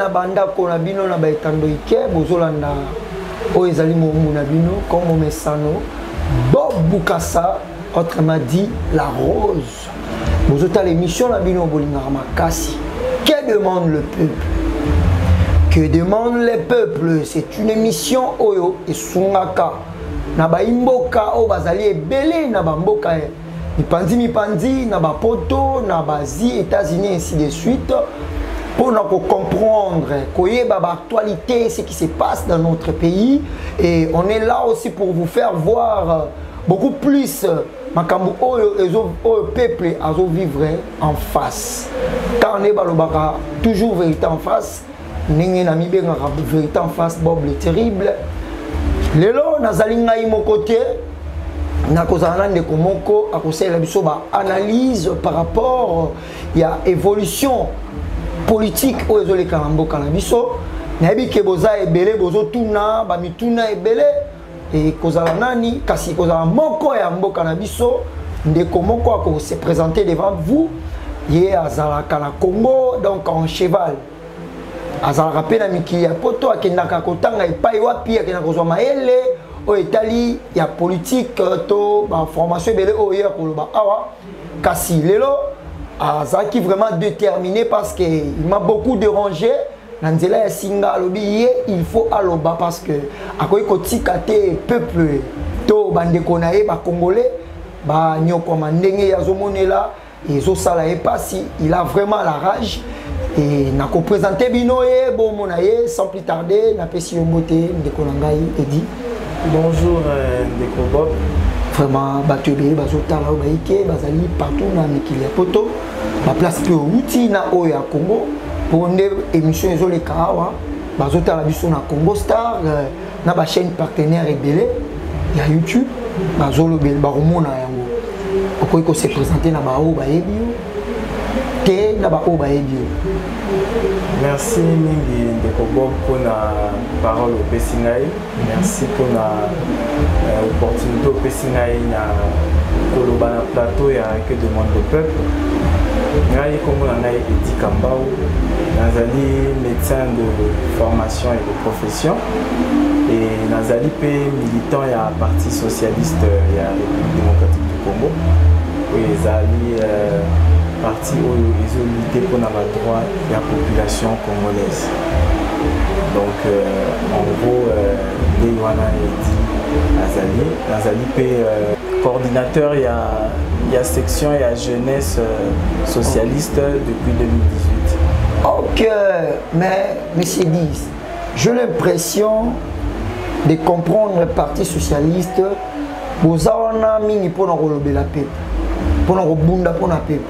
na bandako na bino na baetando ike bozolanda oyo ezali moumbu na bino comme momesano bob bukasa autrement dit la rose bozotala émission na bino bolingaka makasi que demande le peuple que demande les peuples c'est une émission oyo esungaka na baimboka oyo bazali ebele na bamboka mipanzi mipanzi na bapoto na baasie états-unis ainsi de suite mpo na kocomprendre koyeba baactualité ce qui se passe dans notre pays et on est là aussi pour vous faire voir beaucoup plus makambo oyo ezo oyo peuple azovivre en face ntango nde balobaka toujours vérité en face ndenge namibengaka verité en face bob le terrible lelo nazali ngai moko te nakozala na ndeko moko akosalela biso baanalyse par rapport ya évolution politique oyo ezoleka na mboka na biso nayebi ke boza ebele bozotuna bamituna ebele ekozala nani kasi ekozala moko ya mboka na biso ndeko moko akose présente devant vous ye azalaka na congo donc en cheval azalaka mpe na mikili ya poto akendaka kotanga epai wapi akendaka kozwa mayele oyo etali ya politike euh, to baformation ebele oyo ye akoloba awa kasi lelo azalaki vraiment déterminé parce que il m'a beaucoup dérangé na nzela ya singa alobi ye il faut aloba parce que akoki kotika te peuple to bandeko na ye bacongolais banyokwama ndenge ye azomonela ezosala ye mpasi il a vraiment la rage e nakopresente bino ye bomona ye sans plus tarde napesi yo mbote ndeko na ngai edi bonjour euh, ndeko bob vraiment bato ebele bazotala oyo bayike bazali partout na mikili ya poto ba place mpe outi na oyo ya congo mpo nde émission ezoleka awa bazotala biso na congo star euh, na bachaîne partenaire ebele ya youtube bazolobela bakomona yango okoki kose présente na baoyo bayebi yo te na baoyo bayebi yo merci mingi ndeko bob mpona parole opesi ngai merci mpona euh, opportunité opesi ngai na koloba na plateau ya que demande le peuple ngai nkombo na ngai edi kambau nazali médecin de formation et de profession et nazali mpe militant ya parti socialiste ya république démocratique du congo oyo ezali euh, parti oyo ezolite mpo na badroit ya population congolaise donc euh, en gros euh, ndenge wana edi azali nazali mpe euh, coordinateur ya, ya section ya jeunesse socialiste depuis 2018 ok mais monsieur dis j'ai l'impression de comprendre parti socialiste boza wana mingi mpo na kolobela mpepo mpo na kobunda mpo na mpepo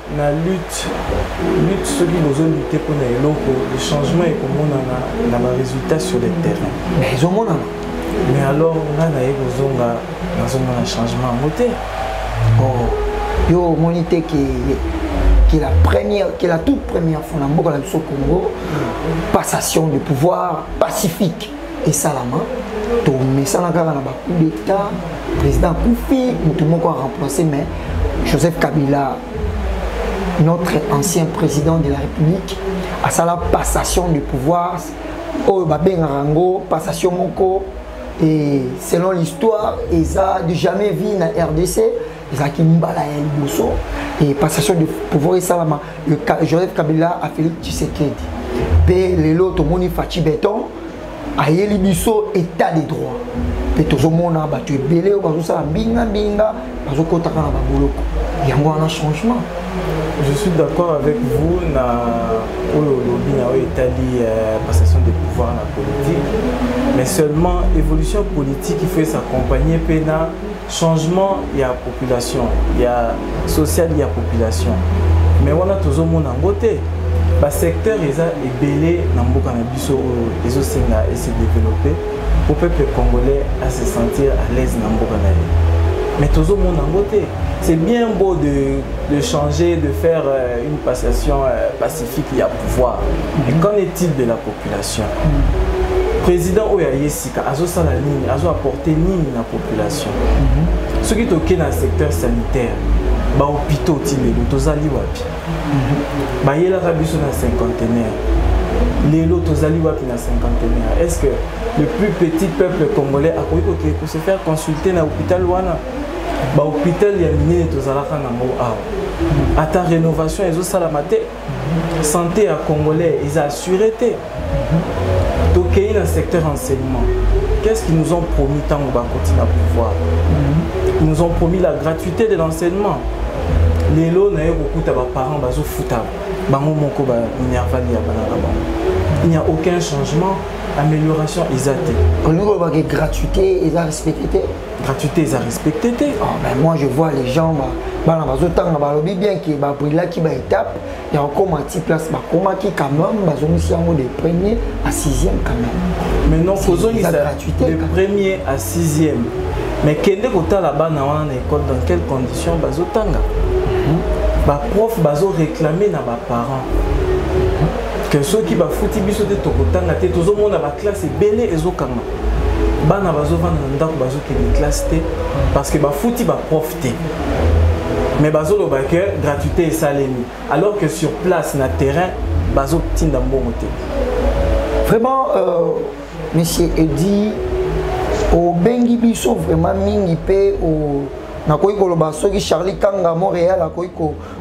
na lutte lutte soki bozo lutte mpo na eloko le changement ekomonana na ba résultat sur le terrain mais ezomonana mais alors nga naye kozonga nazomona changement yango te oh. yo omoni te ke qui est la première, qui est la toute première fois dans le Congo, passation de pouvoir pacifique. esalama tomesana kaka na bacoup d'état président akufi moto moko aremplace mais joseph kabila notre ancien président de la république asala passation de pouvoir oyo babengaka yango passation moko et selon l'histoire eza du jamais vu na rdc ezalaki mbala ya liboso et passation de pouvoir esalama le joseph kabila a félix tshisekedi mpe lelo tomoni faci beton ayeli biso état de droit mpe tozomona bato ebele oyo bazosala mbingambinga bazokotaka na baboloko yango wana changement je suis d'accord avec vous na oyo olobi na oyo etali euh, passation de pouvoir na politique mais seulement évolution politique il faut s'accompagner mpe na changement ya population ya social ya population mais wana tozomona yango te basecteur eza ebele na mboka na biso oyo ezosenga ese développe po peuple congolais ase sentir à l'aise na mboka na ye mais tozomona yango te c'est bien beau de, de changer de faire euh, une passation euh, pacifique ya pouvoir mais qu'en est-il de la population mm. président oyo ayesi azosala nini azo apporte nini na population mhm. soki toke na secteur sanitaire bahôpitaux ti lelo tozali wapi mhm. bayelaka biso na cinquantenaire lelo tozali wapi na cinquantenaire est ce que le plus petit peuple congolais akoki kokei kose faire consulter na hôpital wana bahôpital ya minene tozalaka nango awa mhm. ata rénovation ezosalama te santé ya congolais eza assuré te tokei na secteur enseignement qu'est-ce qu'ils nous ont promis ntango bakoti na pouvoir ils nous ont promis la gratuité de l'enseignement lelo naye kokuta baparent bazofuta bango moko banervali ya bana na bango il n'y a aucun changement amélioration eza te olingi olobaki gratuité eza respecte te gratuité eza respecté te oh, mais moi je vois les gens ba bana bazotanga balobi bien ke babrilaki baétape ya kokoma ti place bakomaki quand même bazongisi yango de premier à sixième quand même maintenant kozongisa de premier à sixième mais kende kotala bana wana na école dans quelles conditions bazotanga mhm. baprof bazoréclame na baparent mhm. que soki bafuti biso te tokotanga te tozomona baklasse ebele ezokanga bana bazovanda na ndako bazokende classe te parce que bafuti baprof te mais bazoloba ke gratuité esalemi alors que sur place na terrain bazotinda mbongo te vraiment euh, monsieur edi obengi biso vraiment mingi mpe nakoki koloba soki charlie kanga montréal akoki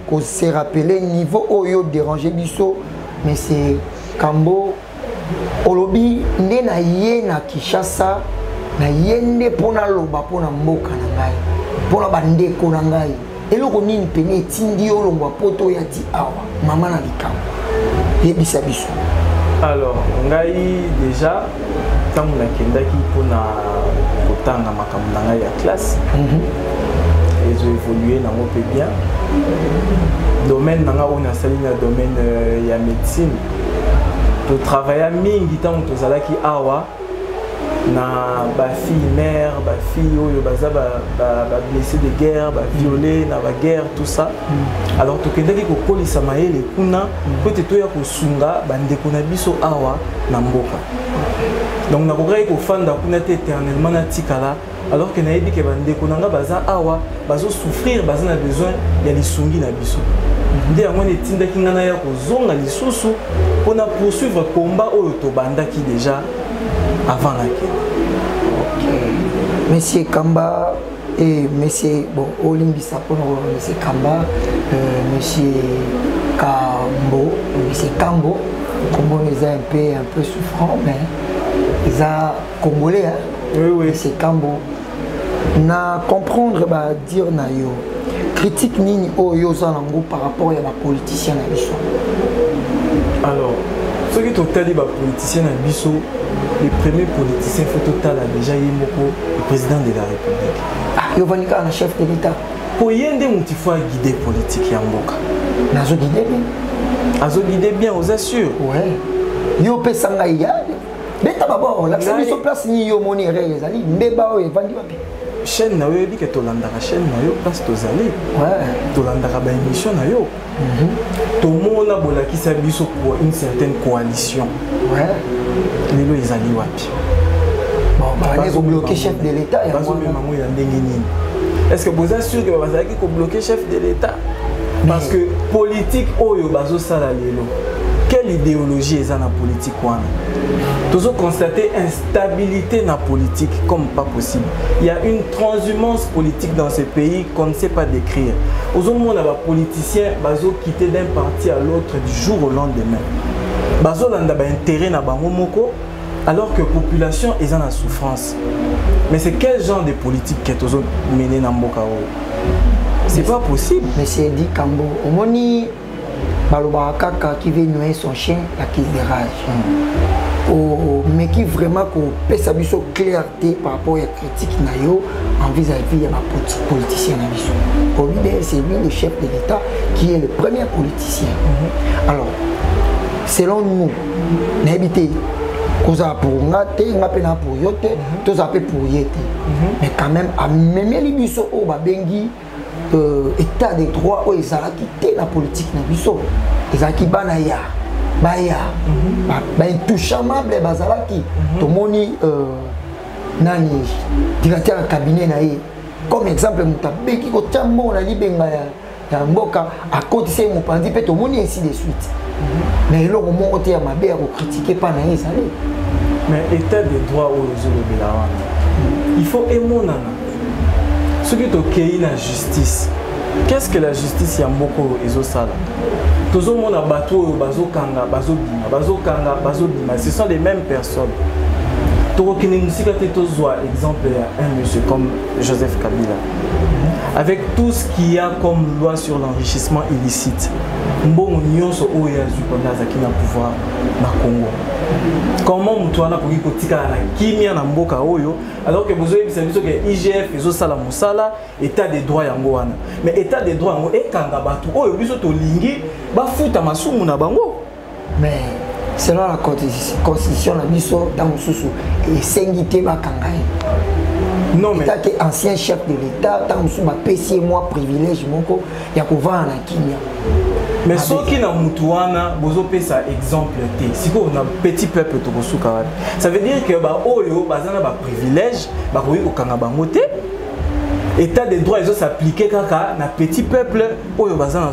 kose rappeler niveau oyo dérange biso mais c'est kambo olobi nde na ye na kinshasa na ye nde mpo naloba mpo na mboka na ngai mpo na bandeko na ngai eloko nini pene etindi yo olongwa poto oya ti awa mama na likambo yebisa biso alors ngai déjà ntango nakendaki mpo na kotanga makambo na ngai ya classe mm -hmm. ezo évolue nango mpe bien domaine na ngai oyo nasali na domaine euh, ya médecine To travailla mingi tango tozalaki awa na ba fille mère ba fille oyo baza ba, ba, ba blessé de guerre ba violé na ba guerre tout ça mm. alors tokendaki kokolisa mayele kuna mm. mpo ete toya kosunga bandeko na biso awa na mboka donc nakokaki kofanda kuna te éternellement natikala alors que nayebi ke bandeko na nga baza awa bazosouffrir baza na besoin ya lisungi na biso nde yango wana etindaki ngai naya kozonga lisusu mpo na poursuivre combat oyo tobandaki déjà avant nakende monsieur kamba e eh, monsieur bon olimbisa mpo na koloba monsieur kamba euh, monsieur kambo monsieur kambo nkombo eza un peu un peu souffrant mais eza congolais hein? oui, oui. c'est kambo na comprendre ba dire na yo critique nini oyo yo oza nango par rapport ya bapoliticien na biso alors soki totali bapoliticien na biso le premier politicien fo totala déjà ye moko le président de la république ah, yo ovandi kaka na chef de l'état mpo ye nde motu fo aguide politike ya mboka nazoguide bien azoguide bien oza sûr ouais. yo opesa ngai ya beta baba olakisa biso place nini yo omoni erreur ezali mbeba oyo evandi wapi chaîne na yo oyebi ke tolandaka chaîne na yo place tozali tolandaka baémission na yo mhm. tomona bolakisa biso pour une certaine coalition lelo ezali wapi bazobloke chef de l'état bazomema ngo ya ndenge nini est ce que boza sûr ke bazalaki kobloke chef de l'état parce que politique oyo bazosala lelo quelle idéologie eza na politique wana tozo constater instabilité na politique comme pas possible il y a une transhumance politique dans ce pays qu'on ne sait pas décrire ozomona bapoliticien bazoquitte d'un parti à l'autre du jour au lendemain bazolanda baintérêt na bango moko alors que population eza na souffrance mais c'est quel genre de politique que tozomene na mboka oyo c'est pas possible monsieur edi kambo omoni balobaka kaka qui veut noyer son chien la crise de rage hmm. omeki vraiment kopesa biso clarté par rapport ya critique na yo en vis-à-vis ya bapoliticien na biso olide c'est lui le chef de l'état qui est le premier politicien hmm. alors selon nous nayebi te kozala pour nga te nga mpe na pour yo te hmm. tozala mpe pour ye te mais quand même amemeli biso oyo babengi euh, état de droit oyo ezalaki te na politike na biso ezalaki bana ya baya mhm. baintouchamable bazalaki mhm. tomoni euh, nani directeur ya cabinet na ye comme exemple moto abeki kotya mbongo na libenga ya mboka akotisa ye mopanzi mpe tomoni ainsi de suite na eloko moko te ya mabe ya kokritike mpa na ye ezali mais état de droit oyo ezolobela wana il faut emonana soki tokei na justice qu'est-ce que la justice ya mboka oyo ezosala tozomona bato oyo bazokanga bazobima bazokanga bazobima ce sont les mêmes personnes tokokende mosika te tozwa exemple ya un monsieur comme joseph kabila avec tout ce qu'il y a comme loi sur l'enrichissement illicite mbongo nyonso oyo ya azwi mpona azalaki na pouvoir na congo comment moto wana akoki kotikala na kimia na mboka oyo alors ke bozoyebisa biso ke igf ezosala mosala état de droit yango wana mais état de droit yango ekanga bato oyo biso tolingi bafuta masumu na bango mais selon la constitution na biso ntango mosusu esengi te bakanga ye non mais te ancien chef de l'état ntango mosusu bapesi ye mwa privilège moko ya kovanda na kimia mais soki na mutu wana bozopesa exemple te sikoyo na petit peuple tokosuka wapi ça veut dire que baoyo baza na baprivilège bakoki kokanga bango te état de droit ezo s'appliquer kaka na petit peuple oyo baza na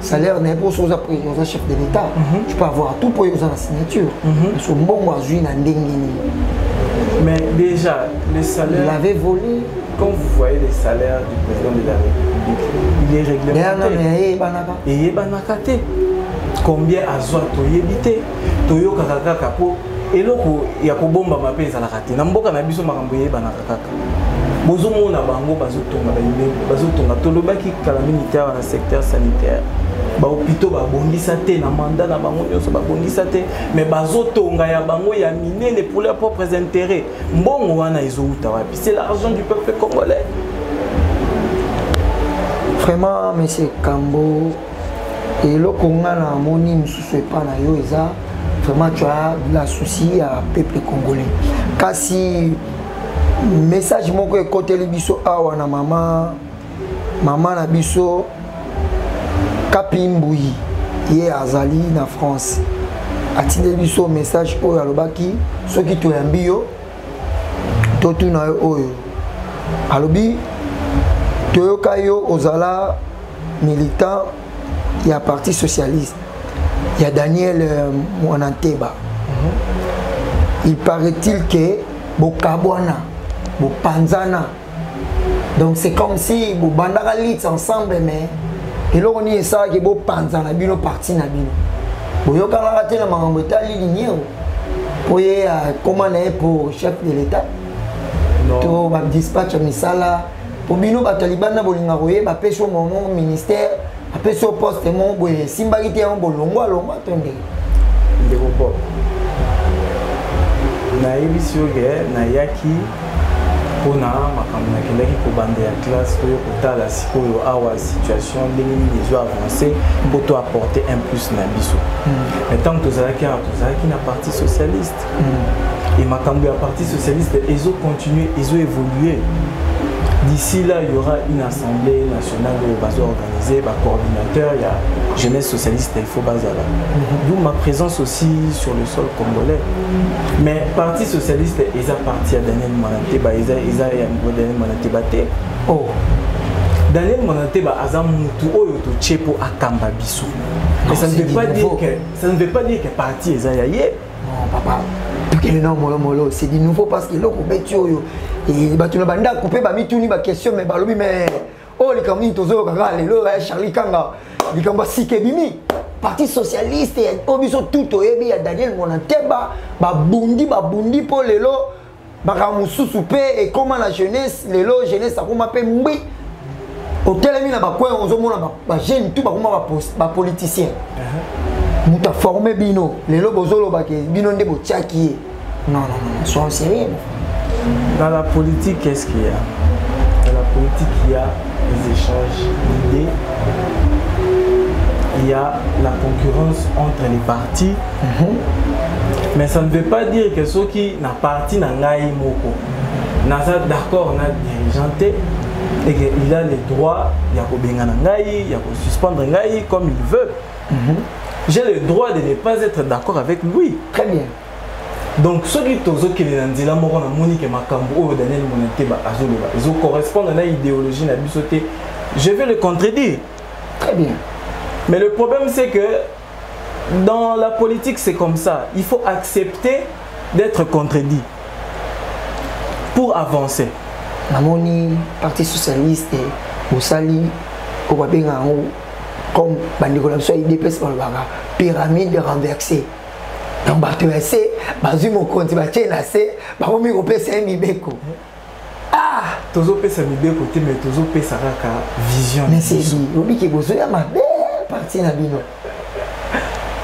salaire na ye mpo soki oza président oza chef de l'état mhm. tu peux avoir tout mpo ye oza na signature mhm. parce que mbongo azwi na ndenge nini mais déjà le salaire il avait volé quand vous voyez les salaires du président de la république il est réglementé eyebanaka eyebanaka te combien azwa toyebi te toyokaka kaka mpo eloko ya kobombama mpe ezalaka te na mboka na biso makambo eyebanaka kaka bozomona bango bazotonga baimeli bazotonga tolobaki kala mingi te awa na secteur sanitaire bahopitaux babongisa te na manda na bango nyonso babongisa te me bazotonga ya bango ya minene pour leurs propres intérêts mbongo wana ezowuta wapi c'est l'argent du peuple congolais vraiment monsieur kambo eloko nga na moni mosusu epa na yo eza vraiment tu as de la souci ya peuple congolais kasi message moko ekoteli biso awa na mama mama na biso kapi mbuyi ye azali na france atindeli biso message oyo alobaki soki toyambi yo totuna yo oyo alobi toyoka yo ozala militant ya parti socialiste ya daniel euh, mwana nteba mhm. il paraît-il ke bokabwana bopanzana donc c'est comme si bobandaka lits ensemble mais eloko nini esalaki bopanza na bino parti na bino boyokanaka te na makambo etali liniero mpo ye akoma na ye mpo chef de l'état to badispatch ya misala mpo bino bato ya libanda bolinga koyeba mpe so momo ministère apesi yo poste moko boye esimbaki te yango bolongwa longwa to ndenge ndeko pop nayebisi yo ke nayaki mpona makambo nakendaki kobanda ya classe oyo kotala sikoyo awa situation ndenge nini ezo avance mpo to apporte un plus na biso hmm. ntango tozalaki awa tozalaki na parti socialiste et makambo ya parti socialiste ezo continuer ezo évoluer d'ici là il y aura une assemblée nationale oyo bazo organiser ba coordinateur ya jeunesse socialiste il faut bazala mhm. d'où ma présence aussi sur le sol congolais mais parti socialiste eza parti ya daniel manateba eza eza ya daniel manateba te oh daniel manateba aza mutu oyo totye mpo akamba biso mais ça ne veut pas dire que ça ne veut pas dire que parti eza ya ye non papa tokende na molomolo c'est du nouveau parce que eloko obeti oyo eh, bato na bandako mpe bamituni baquestion mais balobi mais oyo oh, likambo nini tozoyoka kaka lelo ya eh, charlie kanga likambo ya sika ebimi parti socialiste oyo oh, biso tout toyebi ya daniel monanteba babundi babundi mpo lelo makambo mosusu mpe ekóma na jeunesse lelo jeunesse akóma mpe ngbi otelemi na bacoin ozomona bajeune tout bakóma bapoliticien uh-huh. moto aforme bino lelo bozoloba ke bino nde botiaki ye non non non sois sérieux dans la politique qu'est-ce qu'il y a dans la politique il y a les échanges d'idées il y a la concurrence entre les partis Mhm. mais ça ne veut pas dire que soki na parti na ngai moko naza d'accord na dirigeant te et que il a le droit ya kobengana ngai ya kosuspendre ngai comme il veut mm -hmm. j'ai le droit de ne pas être d'accord avec lui très bien donc soki tozokende na nzela moko namoni ke makambo oyo daniel monateba azoloba ezocorrespondre na idéologie na biso te je vais le contredire très bien mais le problème c'est que dans la politique c'est comme ça il faut accepter d'être contredit pour avancer namoni parti socialiste bosali oyo babenga yango comme bandeko na biso ya idps balobaka pyramide renversée donc bato ya se bazwi mokonzi batie na se bakomi kopesa ye mibeko ah tozopesa mibeko te me tozopesa kaka vision obiki bozoya mabe parti na bino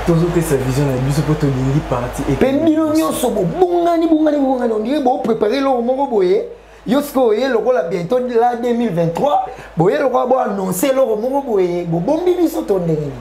tozopesa vision na biso mpo tolingi parti mpe bino nyonso bobongani bongani bongani ondire boprepare eloko moko boye yo sikoyo oye lokola bientôt la 2023 boye lokola boannonce eloko moko boye bobombi biso to ndenge nini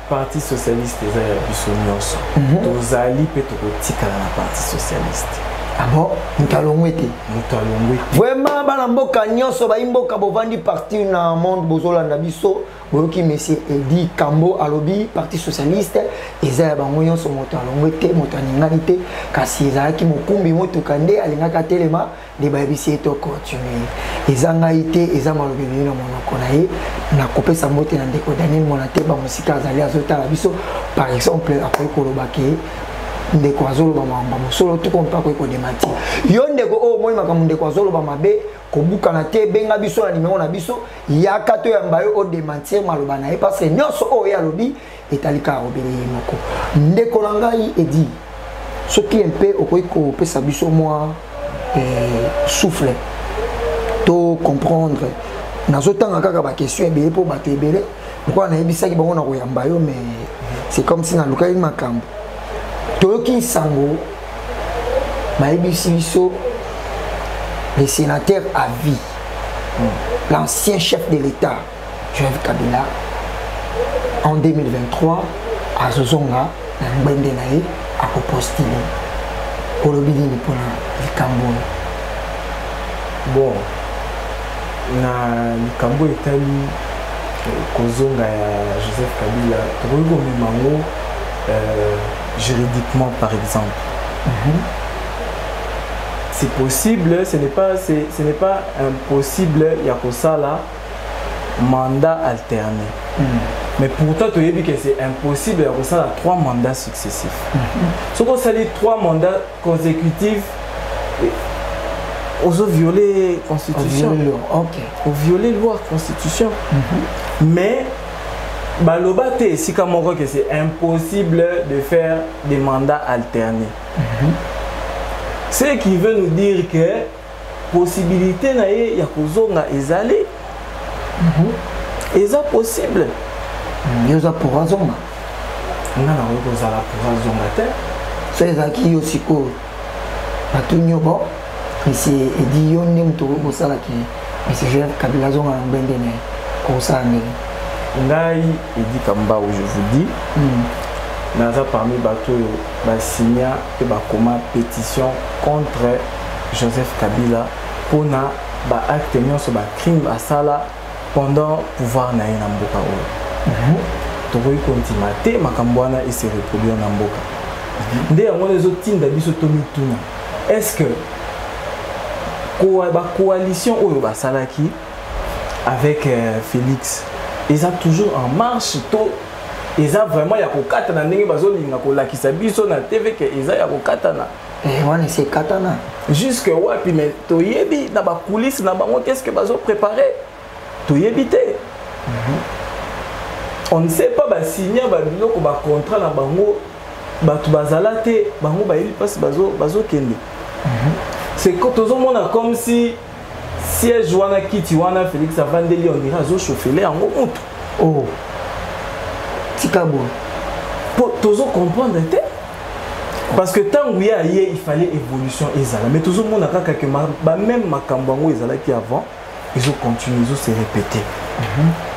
Parti socialiste eza ya biso nyonso. Mhm. Tozali pe tokotikala na parti socialiste. Ah bon? Moto alongwe te. Moto alongwe te. Vraiment bana mboka nyonso bayi mboka bovandi parti na monde bozolanda biso boyoki monsieur Edi Kambo alobi parti socialiste eza ya bango nyonso moto alongwe te moto aningani te kasi ezalaki mokumbi motuka nde alingaki atelema nde bayebisi ye to continue eza ngai te eza malobi ebimi na monoko na ye nakopesa mbote na ndeko daniel mwana te bamosika azali azotala biso par exemple akoki koloba ke ndeko azoloba makambo mosolo toko mpe akoki kodemati yo ndeko oyo omoni makambo ndeko azoloba mabe kobukana te benga biso na nimero na biso yaka toyamba yo odemantir maloba na ye parce que nyonso oyo ye alobi etali kaka obele ye moko ndeko na ngai edi soki mpe okoki kopesa biso mwa eh, souffle to comprendre nazotanga kaka baquestion ebele mpo bato ebele lokola nayebisaki bango na koyamba yo mais c'est comme si nalukaki makambo toyoki nsango bayebisi biso le sénateur à vie l'ancien chef de l'état Jove Kabila en 2023 azozonga na ngbende na ye akopostile olobi nini mpona likambo oyo bon na likambo etali eh, kozonga ya joseph kabila tokoki komema yango euh, juridiquement par exemple mm -hmm. c'est possible ce n'est pas, ce n'est pas impossible ya kosala mandat alterné mm. mais pourtant toyebi que c'est impossible ya kosala trois mandats successifs mm -hmm. soki osali trois mandats consécutifs eh, ozo viole constitution oviole loi constitution mm -hmm. mais baloba te esika moko que c'est impossible de faire des mandats alternés mm -hmm. ce qui veut nous dire que possibilité na ye ya kozonga ezali mm -hmm. eza possible mm, yo oza pour azonga nga nango kozala pour azonga te so ezalaki yo sikoyo batuni yo bon misi edi yo nde moto okoki kosala ke misi joseph kabila azonga na ngbende na ye okosala ndenge ngai edi kambau je vous dis mm. naza parmi bato oyo basigna mpe bakoma petition contre Joseph Kabila mpona ba acte nyonso ba crime asala pendant pouvoir na ye na mboka oyo mhm. tokoki kondima te makambo wana ese reproduire na mboka mhm. nde yango wana ezotinda biso tomituna est ce que bacoalition oyo basalaki avec euh, félix eza toujours en marche to eza vraiment ya kokatana ndenge bazolinga kolakisa biso na tv ke eza ya kokatana eh, wana esi ekatana jusque wapi mais toyebi na bakulise na bango qu'est ce que bazoprépare toyebi te mhm. on ne sait pas basinya babiloko bacontrat na bango bato bazala te bango bayebi mpasi bazokende mhm. c'est tozomona comme si siège wana kiti wana félix avandeli ondire azoshofele yango mutu o oh. tika boye mpo tozocomprendre te parce que ntango ye aye ifallait évolution ezala mais tozomona kaka ke bameme makambo yango ezalaki avant ezocontinue ezose répéter mm -hmm.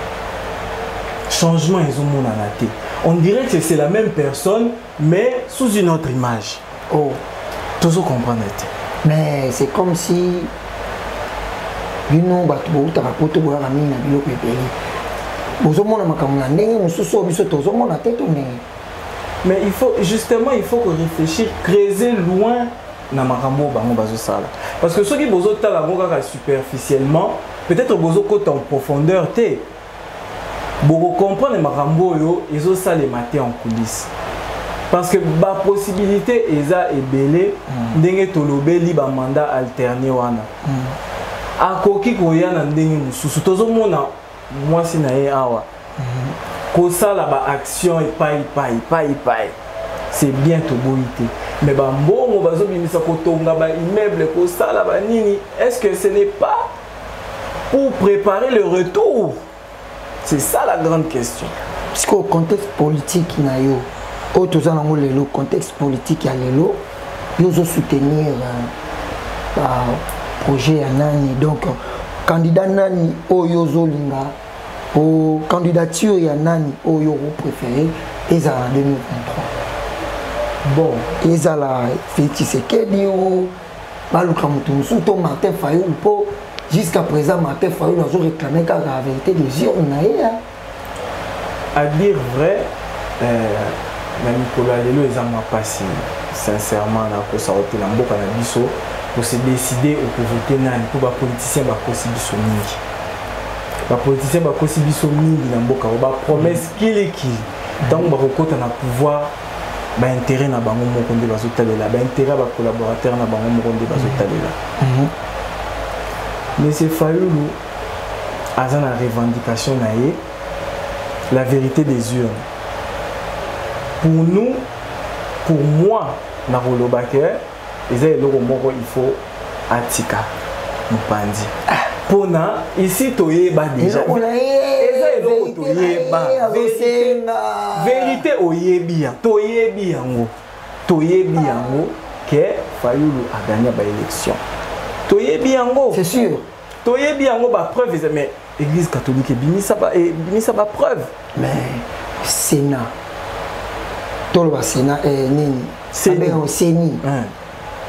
changement ezomonana te on dirait que c'est la même personne mais sous une autre image oh tozo comprendre te mais c'est comme si bino bato boutaka poto boyaka mingi na biloko ebele bozomona makambo na ndenge mosusu oyo biso tozomona te to ndenge mais il faut justement il faut ko réfléchir creuser loin na makambo oyo bango bazosala parce que soki bozotala yango kaka superficiellement peut-être bozokota en profondeur te boko comprendre makambo oyo ezosalema te en coulisse parce que bapossibilité eza ebele mm. ndenge tolobeli bamanda alterne wana mm. akoki koya na ndenge mosusu tozomona mwasi na ye awa mm-hmm. kosala baaction epai epai epai epai c'est bien toboyi te mais bambongo bazobimisa kotonga baimmeuble kosala banini est ce que ce n'est pas pour préparer le retour c'est ça la grande question sikoyo contexte politique na yo oyo toza nango lelo contexte politique ya lelo yo ozosoutenir euh, projet ya nani donc candidat nani oyo ozolinga o candidature ya nani oyo opréféré ezala na 2023 bon ezala félix tshisekedi o baluka moto mosusu to martin fayulu mpo jusqu'à présent martin fayulu azo réclame kaka la vérité des urnes na ye à dire vrai euh, na mikolo ya lelo eza mwa mpasi sincèrement nakosa ote na mboka na biso kose décide okovote nani mpo bapoliticien bakosi biso mingi bapoliticien bakosi biso mingi na mboka o bapromesse kilikili ntango bakokɔta na pouvoir ba intérêt na bango moko nde bazotalela ba intérêt ya bacollaborateur na bango moko nde bazotalela mhm. monsieur fayulu aza na revendication na ye la vérité des urnes pour nous pour moi nakoloba ke eza eloko moko il faut atika mopanzi mpona ah. isi toyeba deja eza eloko toyeba verite oyebi ya toyebi yango toyebi yango ke fayulu agagna baélection toyebi yango c'est sûr toyebi yango ba preuve eza mais église catholique ebimisa ba eh, ebimisa ba preuve mais sénat toloba sénat eh, nini abengango ceni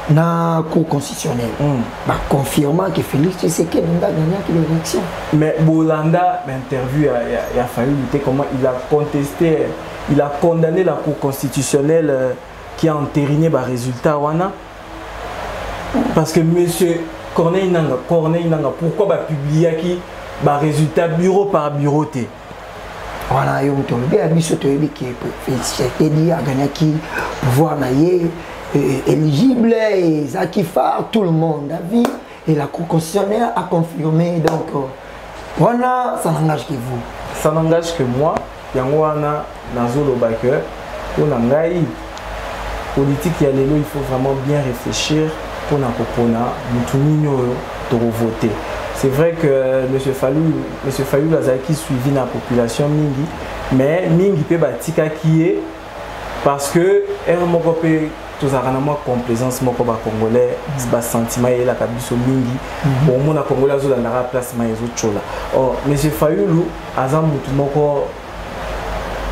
na cour constitutionnelle mm. baconfirma que félix tshisekedi nde agagnaki l'élection mais bolanda bainterview ya, ya, ya fayulu te comment il a contesté il a condamné la cour constitutionnelle euh, qui a entériné barésultat wana parce que monsieur corneille nanga corneille nanga pourquoi bapubliaki barésultat bureau par bureau te wana yo moto olobi ya biso toyebi ke tshisekedi aganaki pouvoir na ye éligible ezalaki phare tout le monde avi Et la Cour constitutionnelle a confirmé, donc, euh, voilà, ça n'engage que vous. Ça n'engage que moi. yango wana nazoloba ke mpo na ngai politike ya lelo il faut vraiment bien réfléchir mpo na kopona motu nini oyo tokovote c'est vrai que euh, monsieur falul monsieur falul azalaki suivi na population mingi mais mingi mpe batikaki ye parce que heure moko mpe tozalaka na mwa complaisance moko bacongolais mm. basentiment eyelaka biso mingi mm-hmm. omona congolais azolandaka place mai ezotyola or oh, monsieur fayulu aza motu moko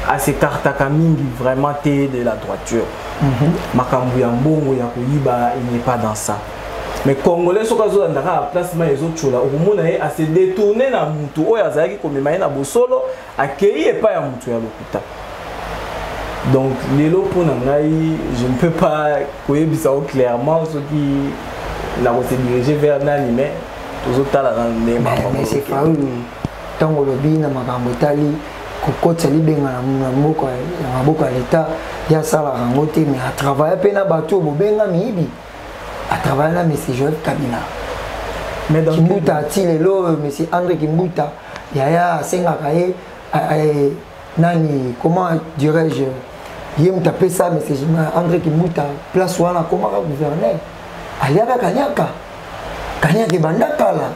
asekartaka mingi vraiment te de la droiture mm-hmm. makambo ya mbongo ya koyiba il n'est pas dans ça mais congolais soki azolanda kaka place mai ezotyola okomona ye ase détourne na motu oyo azalaki komema ye na bosolo akei epai ya moto ya lokuta donc lelo mpo na ngai je ne peux pas koyebisa o clairement soki nakose dirige vers nani mais tozotala na ndenge ntango olobi na makambo etali kokotisa libenga na maboko ya leta ye asalaka yango te mais atravaille mpe na bato oyo bobenga miyibi a travaille na monsieur Joël Kabila mais dans Kimbuta ti lelo euh, monsieur André Kimbuta yaya asengaka ye euh, nani comment dirais-je ye moto apesa monsieur André Kimbuta place wana akomaka gouverneur aliaka kanyaka kanyaka ebanda kala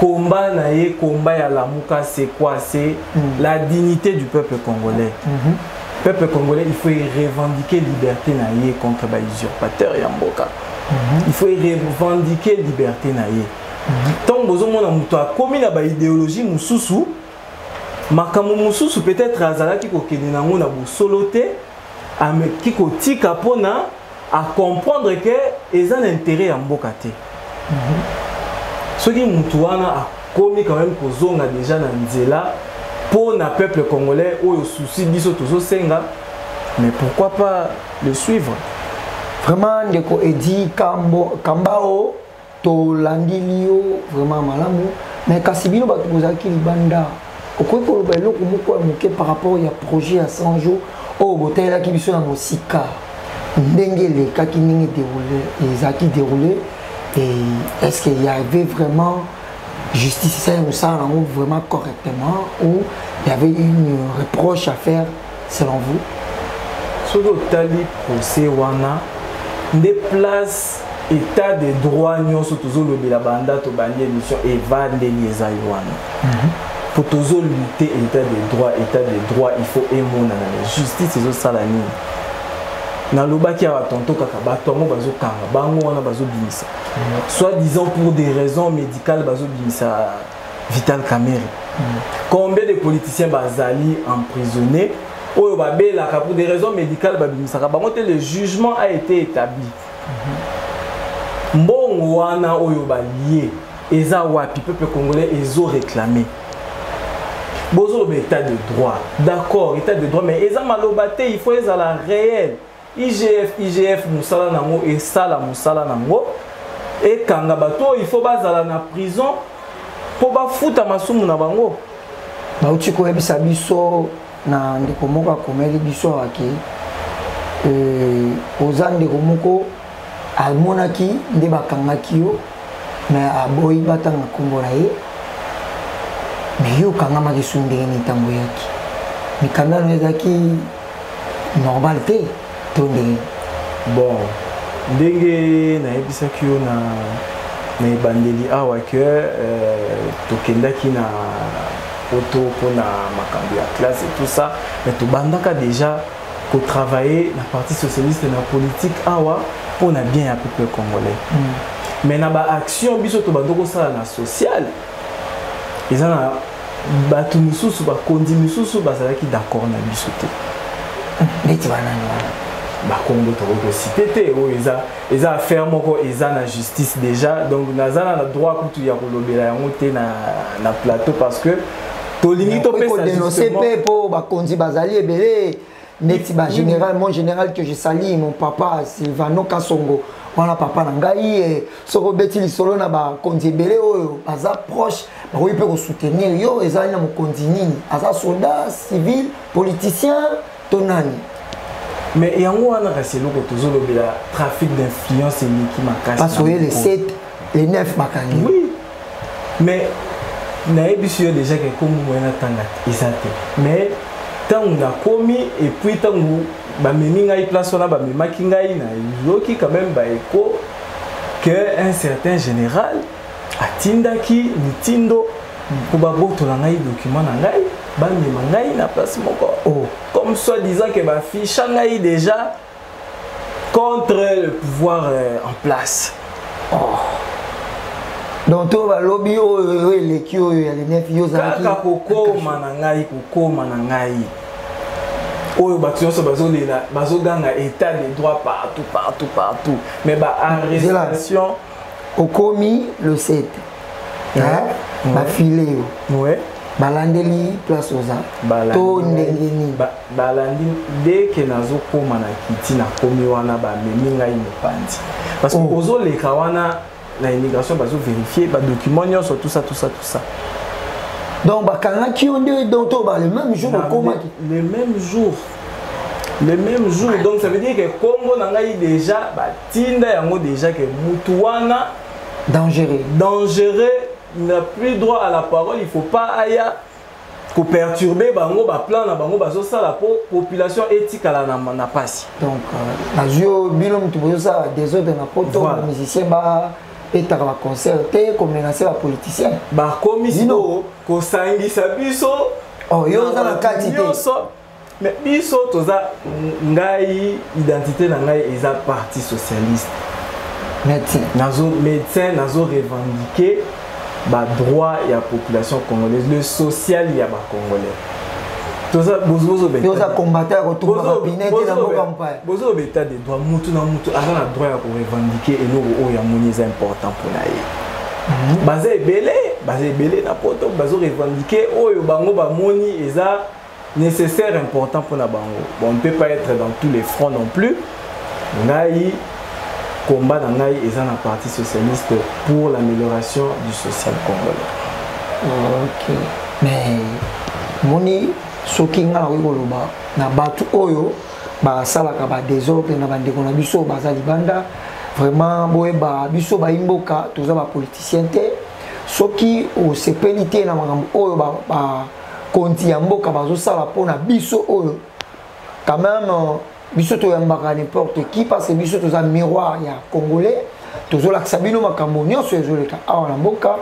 combat na ye combat ya lamuka c'est quoi c'est mm. la dignité du peuple congolais mm -hmm. peuple congolais il faut revendiquer liberté na ye contre ba usurpateur ya mboka mm -hmm. il faut revendiquer liberté na ye ntango mhm. bozomona moto akomi na baidéologie mosusu makambo mosusu peut-être azalaki kokende nango na bosolo te ameki kotika mpona a comprendre que eza na intérêt ya mboka te soki mutu wana akomi quand même kozonga déjà na nzela mpo na peuple congolais oyo souci biso tozosenga mais pourquoi pas le suivre vraiment ndeko edi kambo kambao tolandili yo vraiment malamu me kasi bino bato bozalaki libanda okoki koloba eloko moko ya moke par rapport ya projet ya 100 jour oyo botalelaki biso na mosika ndenge elekaki ndenge déroule ezalaki déroule et est ce qu'il y avait vraiment justice esali mosala yango vraiment correctement ou il y avait une reproche à faire selon vous soki otali procès wana nde place état de droit nyonso tozolobela banda tobandi émission evandeli eza ye wana mhm. po tozolute état de droit état de droit il faut emonana na justice ezosala nini nalobaki awa tonto kaka bato yango bazokanga bango wana bazobimisa mhm. soit disant pour des raisons médicales bazobimisa Vital Kamerhe. Mm. Combien de politiciens bazali emprisonnés oyo babelaka pour des raisons médicales babimisaka bango te le jugement a été établi. Mm-hmm. Mbongo wana oyo balie eza wapi peuple congolais ezo réclamer. Bozo état de droit. D'accord, état de droit mais eza maloba te, il faut ezala réel. igf igf mosala nango esala mosala nango ekanga bato oyo ifo bazala na prison mpo bafuta masumu na bango bauti koyebisa biso na ndeko moko akomeli biso awa ke euh, oza ndeko moko amonaki nde bakangaki yo me aboyi batanga nkombo na ye me yo okangamaki su ndenge nini ntango oyaki mikanda no ezalaki normal te to ndenge bon ndenge nayebisaki yo na na ebandeli awa ke euh, tokendaki na poto mpona makambo ya classe et tout ça mais tobandaka déjà kotravaille na parti socialiste na politique awa mpo na bien ya peuple congolais mm. mais na baaction biso tobandi kosala na sociale eza na bato mosusu bakonzi mosusu bazalaki d'accord na biso te neti banani wana bakongo tokoki kosite te oyo eza eza affaire moko eza na justice déjà donc naza na droit kutu ya kolobela yango te na, na plateau parce que tolingi topesa denonse mpe mpo bakonzi bazali ebele neti ba général mon général que je salis mon papa Silvano Kasongo wana papa na ngai eh, soki obeti lisolo na bakonzi ebele oyo baza proche bakoki mpe kosoutenir yo ezali na mokonzi nini aza soldat civil politicien to nani mais yango wana kasi eloko tozolobela trafic d'influence eleki makasi les neuf bakangi oui mais nayebisi yo déjà ke kombo moye natanga eza te mais ntango nakomi epuis ntango bamemi ngai place wana bamemaki ngai nayoki quand même baeko que un certain général atindaki mitindo mpo babotola ngai document na ngai bamema ngai na place moko oh. comme soit disant ke baficha ngai déjà contre le pouvoir euh, en place oh. donc to balobi oyo eleki oyo ya lenef yo ozalaki kaka kokoma na ngai kokoma na ngai oyo bato nyonso bazolela bazoganga état de droit partout partout partout mais baarrestation okomi le 7 bafile yo balandeli place oza to ndenge nini Balandi dès que nazo koma na kiti na komi wana ba memi ngai mopanzi. Parce que oh. ozo leka wana na immigration bazo vérifier ba documents nyonso tout ça tout ça tout ça. Donc bakangaki yo nde donc to ba le même jour okomaki. Le même jour le même jour donc ça veut dire que kombo na ngai déjà batinda yango déjà que mutu wana dangereux dangereux n'a plus droit à la parole il faut pas aya ko perturber bango ba plan na bango bazo sala po population etikala na na pasi donc euh, nazio bino mutu bozo sala desordre na poto voilà. musicien ba etaka ba concert te ko menacer ba politicien ba komi sino ko sangisa biso oh yo za na kati te mais biso toza ngai identité na ngai eza parti socialiste médecin nazo médecin nazo revendiquer badroit ya population congolaise le social ya bacongolais toza combattant ya kotumba bapine te na mboka mpaya bozobeta de droit motu na motu aza na droit ya korevendiquer eloko oyo amoni eza important mpo na ye mhm. baza ebele baza ebele na poto bazo revendiquer oyo bango bamoni eza nécessaire important pona bango bon on peut pas être dans tous les fronts non plus ngai combat na ngai eza na parti socialiste pour l'amélioration du social congolais ok mais moni soki ngai nakoki koloba na bato oyo basalaka badesordre na bandeko na biso baza libanda vraiment boyeba biso bayimboka toza bapoliticien te soki osepeli te na makambo oyo ba, ba, ba konti ya mboka bazosala mpo na biso oyo quand même euh, biso toyambaka n'importe qui parce que biso toza miroir ya congolais tozolakisa bino makambo nyonso ezoleka awa na mboka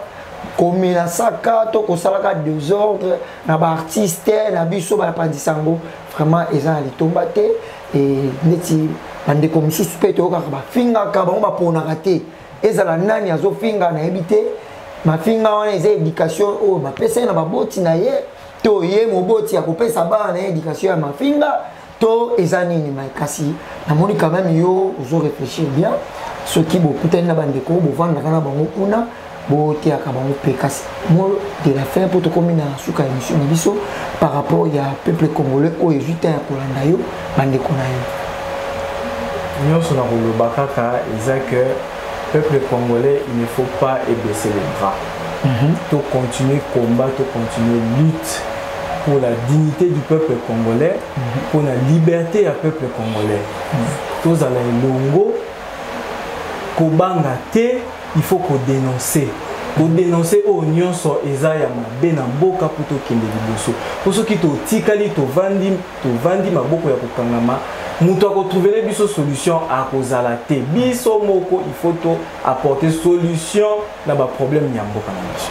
komenasaka to kosalaka desordre na baartiste na biso bapanzisa yango vraiment eza na litomba te e, ndeti bandeko mosusu mpe toyokaka bafingaka bango baponaka te ezala nani azofinga nayebi te mafinga wana eza éducation oyo bapesa ye na baboti na ye to ye moboti akopesa bana na ye éducation ya mafinga to eza nini mai kasi namoni quand même yo ozo réfléchir bien soki bokutani na bandeko bovandaka na bango kuna boteyaka bango mpe kasi mo de la fin mpo tokomi na suka ya émission na biso par rapport ya peuple congolais oyo ezwi temps ya kolanda yo bandeko na yo nyonso na koloba kaka eza que peuple congolais il ne faut pas ebaisser les bras mm -hmm. to continuer combat to continuer lutte pour la dignité du peuple congolais mm -hmm. pour la liberté ya peuple congolais mm -hmm. tozala elongo kobanga te il faut kodénoncer kodénoncer oyo nyonso eza ya mabe na mboka mpo tokende liboso mpo soki totikali tovandi tovandi maboko ya kokangama moto akotrouvele biso solution akozala te biso moko il faut to apporter solution na baproblème ya mboka na biso